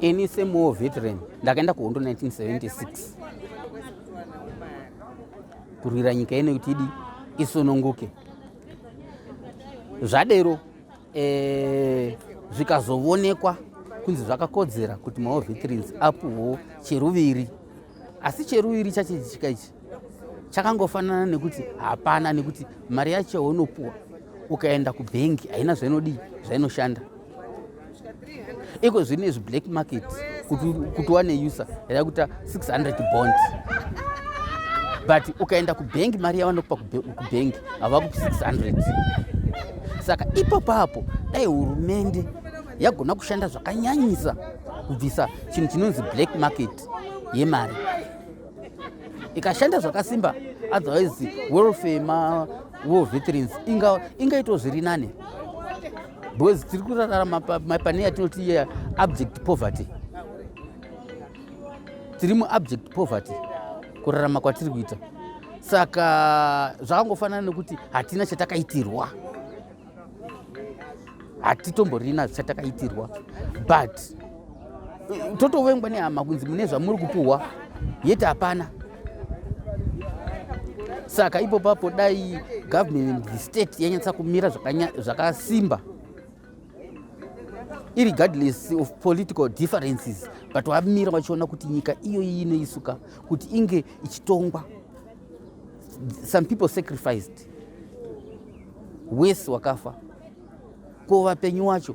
Ini same war veteran ndakaenda kuhondo 1976 kurwira nyika ino kuti idi isununguke. Zvadero eh, zvikazovonekwa kunzi zvakakodzera kuti mawar veterans apuhwo cheruviri asi cheruviri chachiitika ichi chakangofanana nekuti hapana nekuti mari yacho yaunopuwa ukaenda kubhengi haina zvainodii zvainoshanda iko zvino izvi black market kuti wane user yada kuita 600 bond but ukaenda kubhengi mari yavanokupa kubhengi havakupi 600 saka ipapo apo dai hurumende yagona kushanda zvakanyanyisa kubvisa chinhu chinonzi black market yemari ikashanda zvakasimba otherwise welfare ma war veterans inga ingaitwa zviri nani because tiri kurarama mapane yatinoti ye abject poverty tiri muabject poverty kurarama kwatiri kuita saka zvakangofanana nekuti hatina chatakaitirwa hatitomborina zvichatakaitirwa but totovengwa nehama kunzi mune zvamuri kupuhwa yeti hapana saka ipo papo dai government the state yanyatsa kumira zvakasimba irregardless of political differences but wamira vachiona kuti nyika iyoyi inoisuka kuti inge ichitongwa some people sacrificed wese wakafa ko vapenyu wacho